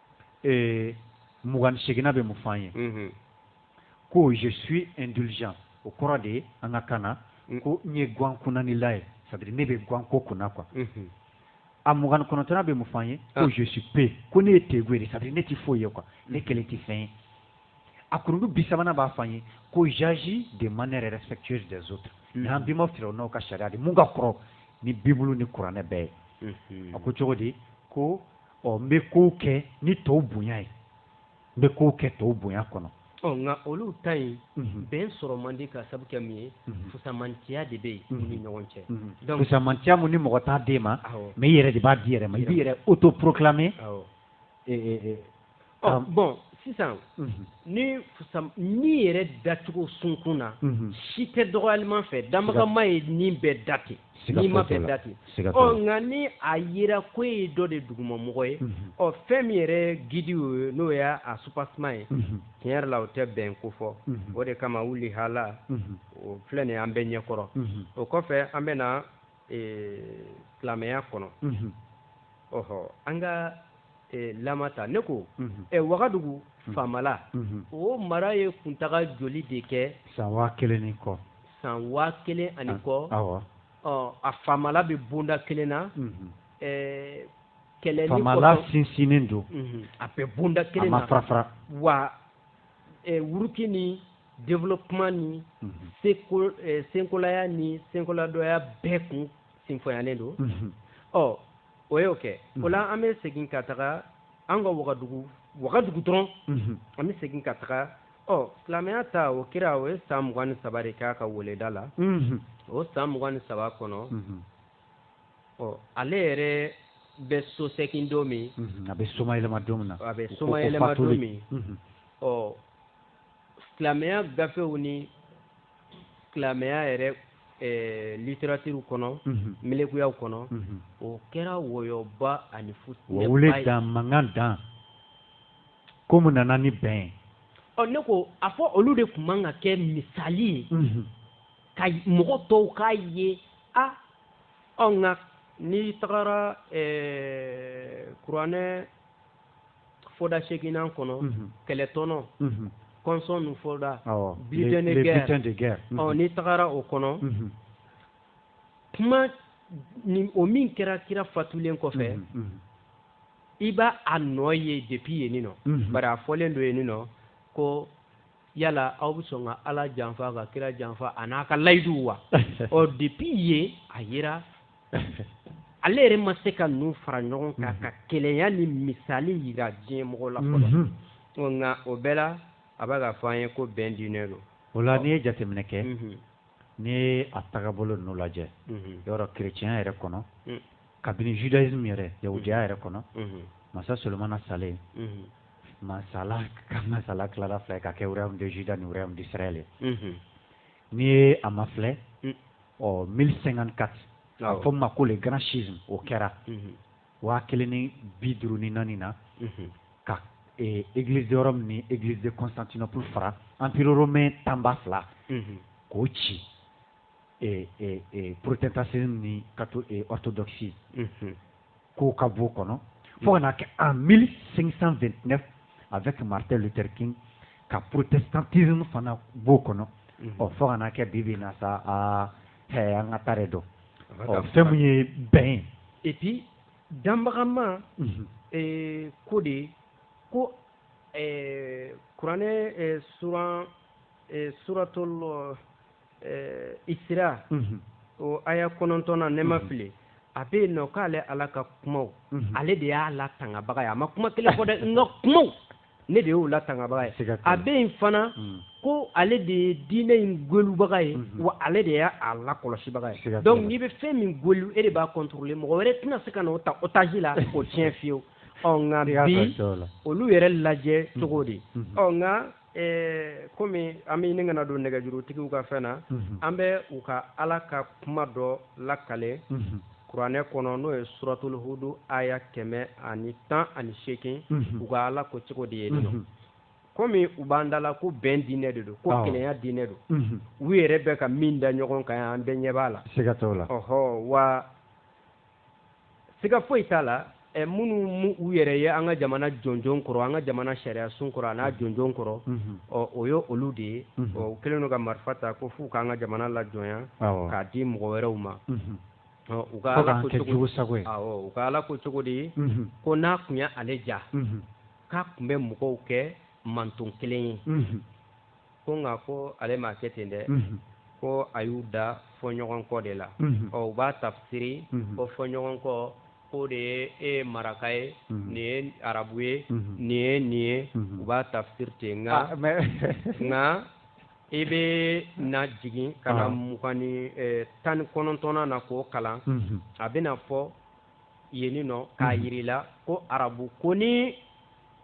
Speaker 1: mugan seginna bɛ mun fɔ ye ko je suis indulgent o kɔrɔ de ye an ka kan na mm. ko n ye gan kunnanila ye c'est-à-dire ne bɛ gan ko kunna quoi mm-hmm. a mugan kɔnɔntɔnna bɛ mun fɔ ye ko ah. je suis pe ko ne ye tɛgu de c'est-à-dire ne tɛ foyi ye quoi ne mm. kelen tɛ fɛn ye a kurundu bi sabanan b'a fɔ ye ko j'agis de manière respectueuse des autres mm. n'an bima farawonaw ka sariya de mun ka kɔrɔ ni bibulu ni kuranɛ bɛɛ ye mm-hmm. a ko cogo di ko ɔ n bɛ kow kɛ ni tɔw bonya ye n bɛ kow kɛ tɔw bonya kɔnɔ ɔ nka olu ta in mhm. bɛn sɔrɔ man di ka sabu kɛ min ye mhm. fusamantiya de bɛ yen mhm. ni ɲɔgɔn cɛ donc fusamantiya mun ni mɔgɔ t'a d'i ma mais i yɛrɛ de b'a d'i yɛrɛ ma i b'i yɛrɛ autoproclamer bɔn sisan ni min yɛrɛ dacogo sunkun na si tɛ dɔgɔlilima fɛ damakaɲa ye min bɛɛ da ten sigi ma fɛn da ten nka ni a yira ko ye dɔ de dugumamɔgɔ ye ɔ fɛn min yɛrɛ gidi ye n'o y'a soubassement ye tiɲɛ yɛrɛ la o tɛ bɛn ko fɔ o de kama wuli hala o filɛ nin an bɛ ɲɛkɔrɔ o kɔfɛ an bɛ silamɛya kɔnɔ ɔɔ an ka la ta ne ko wagadugu faamala o mara ye kuntaga joli de kɛ san waa kelen ni kɔ san waa kelen ani kɔ a faamala bɛ bonda kelen na kɛlɛ sinsin don a bɛ bonda kelen na wa wuruki ni développement ni eh, senkolaya ni senkoladɔya bɛɛ kun sinfɔyanen don ɔ o y'o kɛ o la an bɛ segin ka taga an ka wagadugu wagadugu dɔrɔn an bɛ segin ka taga ɔ silamɛya ta o kira o ye san mugan ni saba de k'a ka weleda la o san mugan ni saba kɔnɔ ɔ ale yɛrɛ bɛ sosegin don min a bɛ somayɛlɛma don min na a bɛ somayɛlɛma don min ɔ silamɛya gafew ni silamɛya yɛrɛ eh, literatiriw kɔnɔ mhm. melekuyaw kɔnɔ mhm. o kɛra wɔyɔba ani futinɛba wele dan mankan dan ko mun nana ni bɛn ye ɔ ne ko a fɔ olu de tun man ka kɛ misali ye mhm. ka mɔgɔ tɔw k'a ye a ɔ nka n'i tagara eh, kuranɛ foda seginna kɔnɔ kɛlɛtɔnɔ kɔnsɔn ninnu foda butin de guerre ɔ n'i tagara o kɔnɔ kuma ni o min kɛra kira fatulen kɔfɛ i b'a a nɔ ye depuis yen nin nɔ bari a fɔlen don yen nin nɔ ko yala aw bɛ sɔn ka ala janfa ka kira janfa a n'a ka layiduw wa ɔ depi ye a yira ale yɛrɛ ma se ka ninnu fara ɲɔgɔn kan ka kelenya ni misali jira diɲɛ mɔgɔ la fɔlɔ nka o bɛɛ la a bɛ k'a fɔ an ye ko bɛn diinɛ don o la n'i ye jateminɛ kɛ n'i ye a tagabolo ninnu lajɛ yɔrɔ kerecɛnya yɛrɛ kɔnɔ kabini judaisme yɛrɛ yahudiya yɛrɛ kɔnɔ masa solomana salen masala ka masala tilara fila ka kɛ wɛrɛw de jida ni wɛrɛw desiraya ye n'i ye a ma filɛ ɔ mi senkan ka a fɔ ma ko de gana si o kɛra waa kelen ni bi duuru ni naani na ka egiliz yɔrɔ min ni egiliz kɔnsantinap fara anpr mɛn tanba fila k'o ci protestant ni catho orthodoxie k'o ka bɔ o kɔnɔ fo ka na kɛ en mille cinq cent vingt-neuf avec martin luther king ka protestantisme fana b'o kɔnɔ ɔ fo ka na kɛ bi bi na sa aa hɛ an ka taara dɔn fɛn min ye bɛn ye epi danbagama ko de ye ko kuranɛ suran suratɔ ɛɛ isira o aya kɔnɔntɔn na ne ma fili a bɛ yen nɔ k'ale ala ka kumaw ale de y'a latangabaga ye a ma kuma kelen fɔ dɛ n ka kumaw ne de y'o latangabaga ye a bɛ yen fana ko ale de ye diinɛ in gwelubaga ye wa ale de y'a lakɔlɔsibaga ye dɔnku n'i bɛ fɛn min gwelu e de b'a contrôle mɔgɔ wɛrɛ tɛna se ka n'o ta o tigi la o tiɲɛ fewu ɔ nka olu yɛrɛ lajɛ cogo de ɔ nka Ɛɛ kɔmi an bɛ ɲini ka na don nɛgɛjurutigiw ka fɛn na an bɛ u ka ala ka kuma dɔ lakale kuranɛ kɔnɔ n'o ye suratulu hudu aya kɛmɛ ani tan ani seegin u ka ala ko cogo di yen nɔ kɔmi u b'an da a la ko bɛn diinɛ de don ko kelenya diinɛ don u yɛrɛ bɛ ka min da ɲɔgɔn kan an bɛɛ ɲɛ b'a la seigatɔ la ɔɔ wa siga foyi t'a la minnu u yɛrɛ ye an ka jamana jɔnjɔn kɔrɔ an ka jamana sariya sun kɔrɔ a n'a jɔnjɔn kɔrɔ ɔ o y ye olu de ye o kɛlen don ka marifa ta ko fo u k'an ka jamana lajɔnya k'a di mɔgɔ wɛrɛw ma u ka ala ko cogo sago u ka ala ko cogo de ye ko n'a tun ye ale diya k'a tun bɛ mɔgɔw kɛ mantɔn kelen ye ko nka ko ale ma kɛ ten dɛ ko a y'u da fɔɲɔgɔnkɔ de la ɔ u b'a tafisiri ko fɔɲɔgɔnkɔ ko de ye e ye maraka ye nin ye arabu ye nin ye nin ye u b'a tafisiri ten nka ah, nka i bɛna jigin ka na ah. mugan ni eh, tan ni kɔnɔntɔnnan na k'o kalan mhm. a bɛna fɔ yen nɔ k'a mhm. yir'i la ko arabu ko ni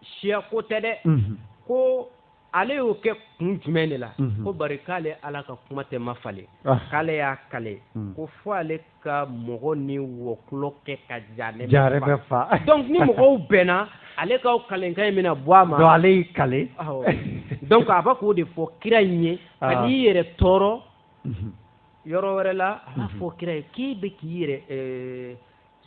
Speaker 1: siya ko tɛ dɛ mhm. ko ale y'o kɛ kun jumɛn de la ko bari k'ale ala ka kuma tɛ mafalen k'ale y'i kale ko fo ale ka mɔgɔ ni wɔkulɔ kɛ ka jahanama fa donc ni mɔgɔw bɛnna ale ka kalekan in bɛna bɔ a ma ale y'i kale donc a bɛ k'o de fɔ kira in ye kan'i yɛrɛ tɔɔrɔ yɔrɔ wɛrɛ la a fɔ kira ye k'i bɛ k'i yɛrɛ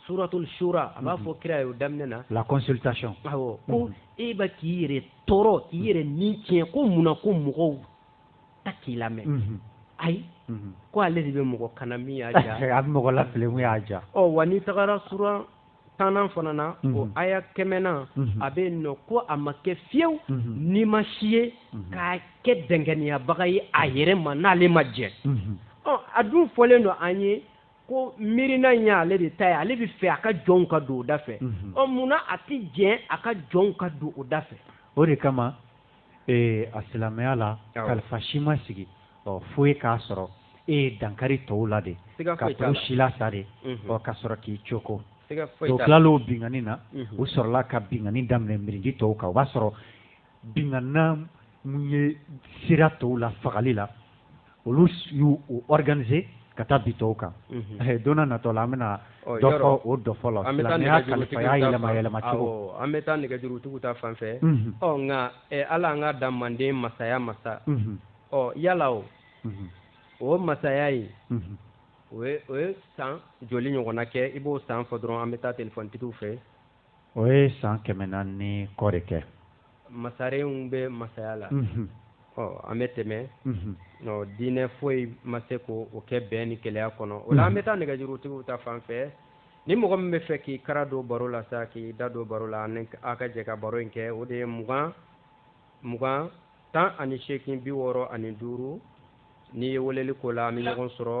Speaker 1: suratul shura a b'a mhm. fɔ kira ye o daminɛ na la consultation awɔ ko mhm. i bɛ k'i yɛrɛ tɔɔrɔ k'i mhm. yɛrɛ ni tiɲɛ ko mun na ko mɔgɔw tɛ k'i lamɛn ayi ko ale de bɛ mɔgɔ kana min y'a diya a bɛ mɔgɔ lafili min y'a diya ɔ wa n'i tagara sura tannan fana na o aya kɛmɛnan a bɛ yen nɔ ko a ma kɛ fewu nima si ye k'a kɛ dɛnkɛnɛyabaga ye a yɛrɛ ma n'ale ma jɛn ɔ a dun fɔlen don an ye ko miirina in y'ale de ta ye ale bɛ fɛ a ka jɔnw ka don o da fɛ mhm. ɔ munna a tɛ jɛn a ka jɔnw ka don o da fɛ o de kama ee a silamɛya la kalifa si ma sigi ɔ fo ye k'a sɔrɔ e ye dankari tɔw la de ka tɔw silasa de mhm. ɔ ka sɔrɔ k'i coko o tilal'o binkanni na mhm. u sɔrɔla ka binkanni daminɛ mirindi tɔw kan o b'a sɔrɔ Binna na minnu ye sira tɔw la fagali la olu y'u organiser ka taa bin tɔw kan don natɔ la an bɛna o dɔ fɔlɔ an bɛ an bɛ taa nɛgɛjurutigi ta fan fɛ ɔ nka ala an ka da manden masaya masa ɔ yala o o masaya ye o san joli ɲɔgɔn kɛ i b'o san fɔ dɔrɔn an bɛ taa telefɔnitigiw fɛ o ye san kɛmɛ naani ni kɔ de kɛ masarenw bɛ masaya la ɔ an bɛ tɛmɛ diinɛ foyi ma se ka o kɛ bɛn ni kelenya kɔnɔ o la an bɛ taa nɛgɛjurutigiw ta fan fɛ ni mɔgɔ min bɛ fɛ k'i kara don baro la sa k'i da don baro la an ka jɛ ka baro in kɛ o de ye mugan mugan tan ani seegin bi wɔɔrɔ ani duuru n'i ye weleli k'o la an bɛ ɲɔgɔn sɔrɔ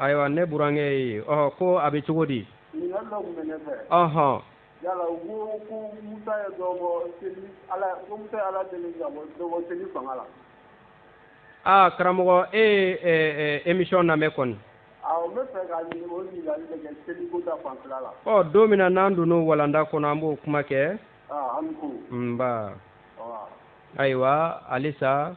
Speaker 1: ayiwa ne burankɛ ye ɔ ko a bɛ cogo di ɔhɔn yala u ko ko musa ye dɔ bɔ seli ala ko musa ye ala deli ka bɔ dɔ bɔ seli fanga la aa karamɔgɔ e ye ɛ ɛ emission lamɛn kɔni awɔ n bɛ fɛ ka ɲini o ɲininkali de kɛ seli ko ta fanfɛla la ɔ don min na n'an donn'o walanda kɔnɔ an b'o kuma kɛ aa an ni ko nba ayiwa halisa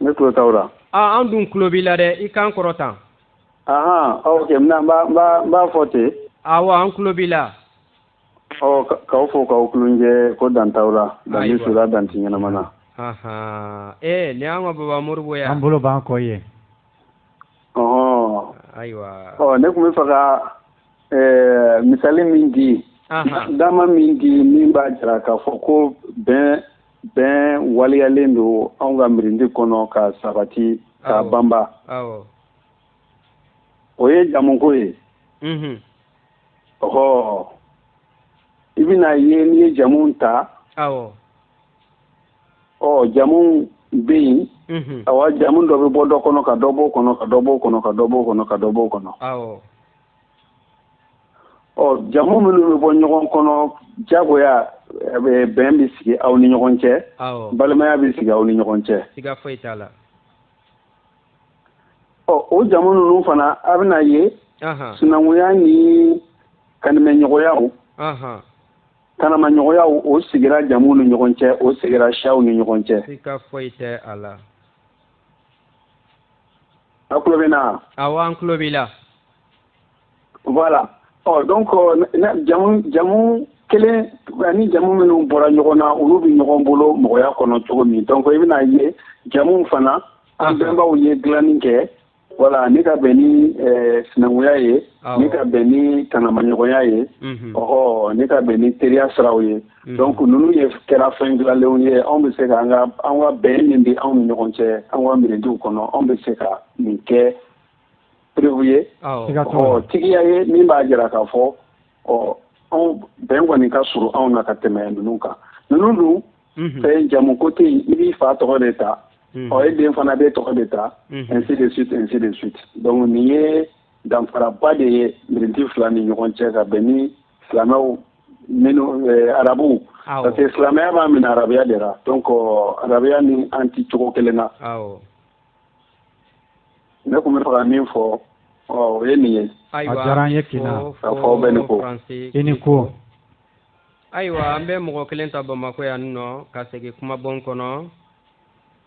Speaker 1: Ne tulo t'aw la. Aa an dun tulo b'i la dɛ i kan kɔrɔta. Ahan ɔ ok n b'a fɔ ten. Awɔ an tulo b'i la. Ɔ k'aw fo k'aw kulunjɛ ko dan t'aw la. Ayiwa Dan bɛ su la dan tɛ ɲɛnama na. Ahan ee nin y'an ka baba Moribo ye wa. An bolo b'an kɔ i ye. Ɔhɔn. Ayiwa. Ɔ ne tun bɛ fɛ ka ɛɛ misali min di. Ahan. Dama min di min b'a jira k'a fɔ ko bɛn bɛn waleyalen don anw ka mirindi kɔnɔ ka sabati ka banba o ye jamuko ye ɔ i bɛna ye n'i ye jamu ta ɔ jamu bɛ yen awa jamu dɔ bɛ bɔ dɔ kɔnɔ ka dɔ bɔ o kɔnɔ ka dɔ bɔ o kɔnɔ ka dɔ bɔ o kɔnɔ ka dɔ bɔ o kɔnɔ ɔ jamu minnu bɛ bɔ ɲɔgɔn kɔnɔ jagoya bɛn bɛ sigi aw ni ɲɔgɔn cɛ balimaya bɛ sigi aw ni ɲɔgɔn cɛ ɔ o jamu ninnu fana a bɛna ye sinankunya ni kanimɛɲɔgɔnya tanamaɲɔgɔnya o sigira jamu ni ɲɔgɔn cɛ o sigira siyaw ni ɲɔgɔn cɛ A tulo bɛ n na? Awɔ an tulo b'i la. Voilà ɔ donc jamu jamu kelen ani jamu minnu bɔra ɲɔgɔn na olu bɛ ɲɔgɔn bolo mɔgɔya kɔnɔ cogo min donc i bɛna ye jamuw fana an bɛnbaw ye dilanni kɛ voilà ni ka bɛn ni sinankunya ye ni ka bɛn ni tanamaɲɔgɔnya ye ɔhɔ ni ka bɛn ni teriya siraw ye. Mm-hmm. donc ninnu ye kɛra fɛn dilanlenw ye anw bɛ se ka an ka an ka bɛn min bɛ anw ni ɲɔgɔn cɛ an ka mirindiw kɔnɔ anw bɛ se ka nin kɛ preuve ye ɔ tigiya ye min b'a jira k'a fɔ ɔ anw bɛn kɔni ka surun anw na ka tɛmɛ ninnu kan ninnu dun mm-hmm. fɛn jamu ko tɛ yen i b'i fa tɔgɔ de ta mm-hmm. ɔ e den fana b'e tɔgɔ de ta ainsi de suite ainsi de suite donc nin ye danfaraba de ye mirindi fila ni ɲɔgɔn cɛ ka bɛn ni silamɛw minnu eh, arabuw parce que silamɛya b'a minɛ arabuya de la donc arabuya ni an ti cogo kelen na ne tun b'a fɛ ka min fɔ o ye nin ye a diyara an ye kina ka fɔ bɛ ni ko i ni ko ayiwa an bɛ mɔgɔ kelen ta bamakɔ yan nɔ ka segin kumabon kɔnɔ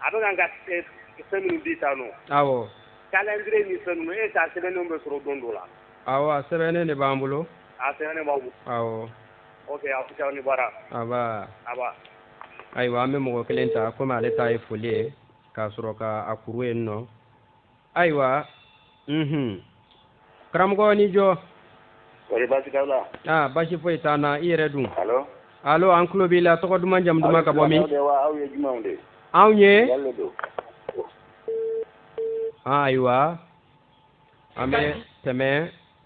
Speaker 1: a bɛ ka fɛn min di ta k'alenle ni fɛn e ka sɛbɛnnen bɛ sɔrɔ don don la a sɛbɛnnen de b'an bolo a sɛbɛn ni bara ayiwa an bɛ mɔgɔ kelen ta kɔmi ale ta ye foli ye ka sɔrɔ k'a kuru yen nɔ ayiwa unhun karamɔgɔ aw ni jɔ kɔri baasi t'aw la aa baasi foyi t'an na i yɛrɛ dun allo allo an tulo b'i la tɔgɔ duman jamu duman ka bɔ min aw ye jumɛnw de ye wa aw ye jumɛnw de ye anw ye jalo don ayiwa an bɛ tɛmɛ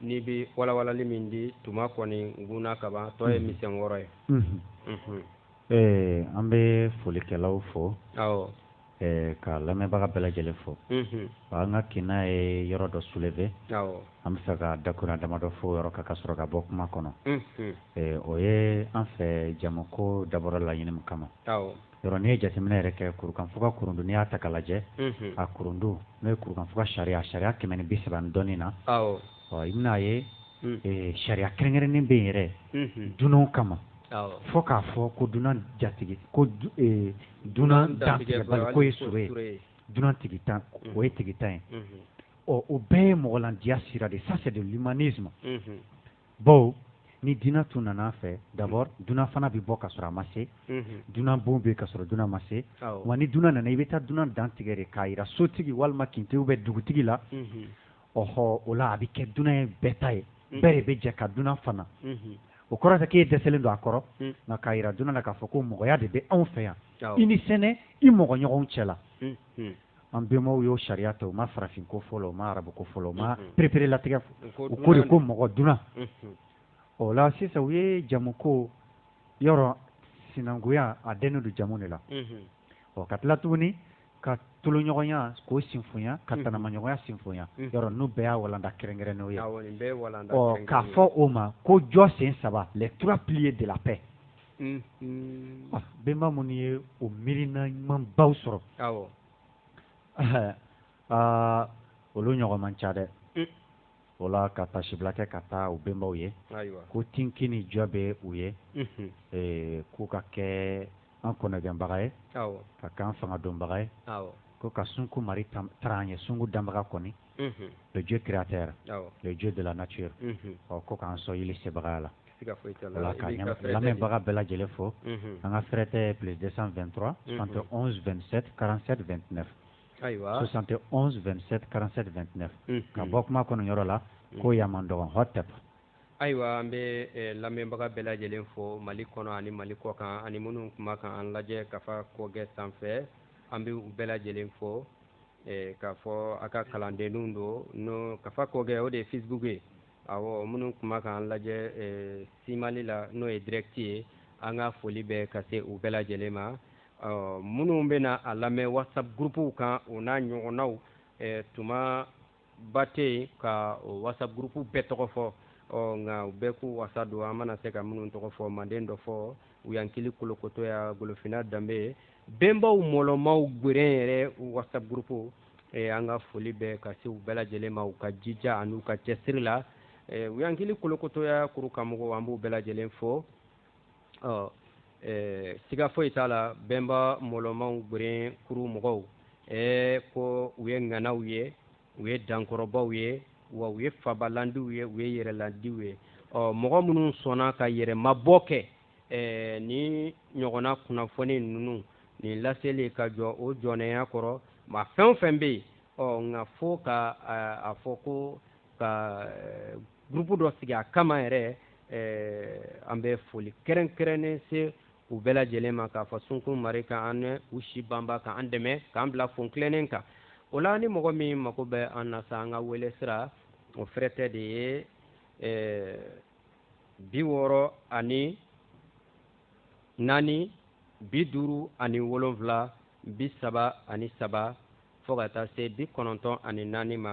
Speaker 1: n'i bɛ walawalali min di tuma kɔni gna kaban tɔ ye misɛn wɔɔrɔ ye ɛɛ an bɛ folikɛlaw fo ka lamɛnbaga bɛɛ lajɛlen fo an ka kin n'a ye yɔrɔ dɔ soulever an bɛ se ka dakun damadɔ fɔ yɔrɔ kan ka sɔrɔ ka bɔ kuma kɔnɔ o ye an fɛ jamu ko dabɔra laɲini min kama yɔrɔ n'i ye jateminɛ yɛrɛ kɛ kurukanfuga kurundu n'i y'a ta ka lajɛ a kurundu n'o ye kurukanfuga sariya sariya kɛmɛ ni bi saba ni dɔɔnin na ɔ i bɛna'a ye sariya kɛrɛnkɛrɛnnen bɛ yen yɛrɛ dunanw kama fo k'a fɔ ko dunan jatigi ko dunan dantigɛbali ko ye sɔrɔ ye dunan tigintan o ye tigintan ye ɔ o bɛɛ ye mɔgɔ ladiya sira de ça c'est de l'humanisme bawo ni dunan tun nana an fɛ d'abord dunan fana bɛ bɔ ka sɔrɔ a ma se, unhun, dunan bon bɛ yen ka sɔrɔ dunan ma se, awɔ, wa ni dunan nana i bɛ taa dunan dantigɛ de k'a jira sotigi walima kintigi ou bien dugutigi la, unhun, ɔhɔ o la a bɛ kɛ dunan ye bɛɛ ta ye, unhun, bɛɛ de bɛ jɛ ka dunan fana, unhun, o kɔrɔ tɛ k'e dɛsɛlen don a kɔrɔ, un, nka k'a jira dunan na k'a fɔ ko mɔgɔya de bɛ anw fɛ yan, awɔ, i ni sɛnɛ i mɔgɔɲɔgɔnw cɛla, unhun. an benbaw y'o sariya ta u ma farafin ko fɔ u ma arabu ko fɔ u ma pereperelatigɛ u ko de ko mɔgɔ dunan o la sisan u ye jamu ko yɔrɔ sinankunya a dɛnnen don jamu de la ɔ ka tila tuguni ka toloɲɔgɔnya k'o sinfoya ka tanamaɲɔgɔnya sinfoya yɔrɔ n'u bɛɛ y'a walanda kɛrɛnkɛrɛn n'o ye k'a fɔ o ma ko jɔ sen saba les trois piliers de la paix benba minnu ye o miirina ɲuman baw sɔrɔ aa olu ɲɔgɔn man ca dɛ o la ka taasibila kɛ ka taa u benbaw ye ko tk ni jɔ bɛ u ye k'u ka kɛ an kɔnɔgɛnbaga ye ka kɛ an fanga dɔnbaga ye ko ka sunko mari taara an ye sunko danbaga kɔni le dieu créateur le dieu de la nature ɔ ko k'an son yeli sebagaya la voilà ka lamɛnbaga bɛɛ lajɛlen fo an ka fɛrɛtɛ plus 223 71 27 47 29 ayiwa 71 27 47 29 ka bɔ kuma kɔnɔ yɔrɔ la ko yan man dɔgɔn hot tap ayiwa an bɛ eh, lamɛnbaga bɛɛ lajɛlen fo mali kɔnɔ ani mali kɔkan ani minnu kuma kan an lajɛ kafa kɔgɛ sanfɛ an bɛ u bɛɛ lajɛlen fo eh, k'a fɔ a ka kalandenninw don n'o kafa kɔgɛ o de ye facebook ye awɔ minnu kuma k'an lajɛ eh, simali la n'o ye direct ye an ka foli bɛ ka se u bɛɛ lajɛlen ma minnu bɛna a lamɛn whatsapp gurupuw kan o n'a ɲɔgɔnnaw eh, tuma ba tɛ se ka o WhatsApp gurupu bɛɛ tɔgɔ fɔ ɔ nka u bɛɛ k'u wasa don an mana se ka minnu tɔgɔ fɔ manden dɔfɔ uyankili kolokotoya golofina danbe benbaw mɔlɔmaw geren yɛrɛ WhatsApp gurupu e, an ka foli bɛ ka se u bɛɛ lajɛlen ma u ka jija an'u ka cɛsiri la e, uyankili kolokotoya kuru kanmɔgɔw an b'u bɛɛ lajɛlen fo ɔ ɛɛ siga foyi t'a la bɛnba mɔlɔmaw geren kuru mɔgɔw ɛɛ ko u ye ŋanaw ye u ye dankɔrɔbaw ye wa u ye fabalandiw ye u ye yɛrɛlandiw ye ɔ mɔgɔ minnu sɔnna ka yɛrɛmabɔ kɛ ɛɛ nin ɲɔgɔnna kunnafoni ninnu nin laseli ka jɔ o jɔnɛya kɔrɔ maa fɛn o fɛn bɛ yen ɔ nka fo ka a fɔ ko ka eh, gurupu dɔ sigi a kama yɛrɛ eh, an bɛ foli kɛrɛnkɛrɛnnen se u bɛɛ lajɛlen ma k'a fɔ sunkun mari ka an ni u si banba ka an dɛmɛ k'an bila fon tilennen kan o la ni mɔgɔ min mago bɛ an na sa an ka wele sira o fɛrɛtɛ de ye eh, bi wɔɔrɔ ani naani bi duuru ani wolonwula bi saba ani saba fo ka taa se bi kɔnɔntɔn ani naani ma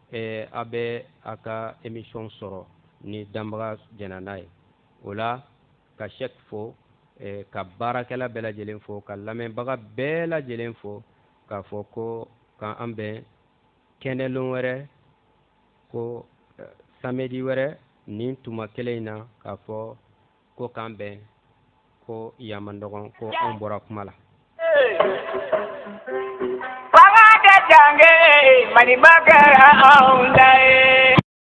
Speaker 1: eh, a bɛ a ka emission sɔrɔ ni danbaga jɛnna n'a ye o la ka shɛk fo eh, ka baarakɛla bɛɛ lajɛlen fo ka lamɛnbaga bɛɛ lajɛlen fo k'a fɔ ko ka an bɛn kɛnɛlon wɛrɛ ko eh, samedi wɛrɛ nin tuma kelen in na k'a fɔ ko k'an bɛn ko yan man dɔgɔn ko anw bɔra kuma la Fanga ka danbe Mali ma kɛra anw da ye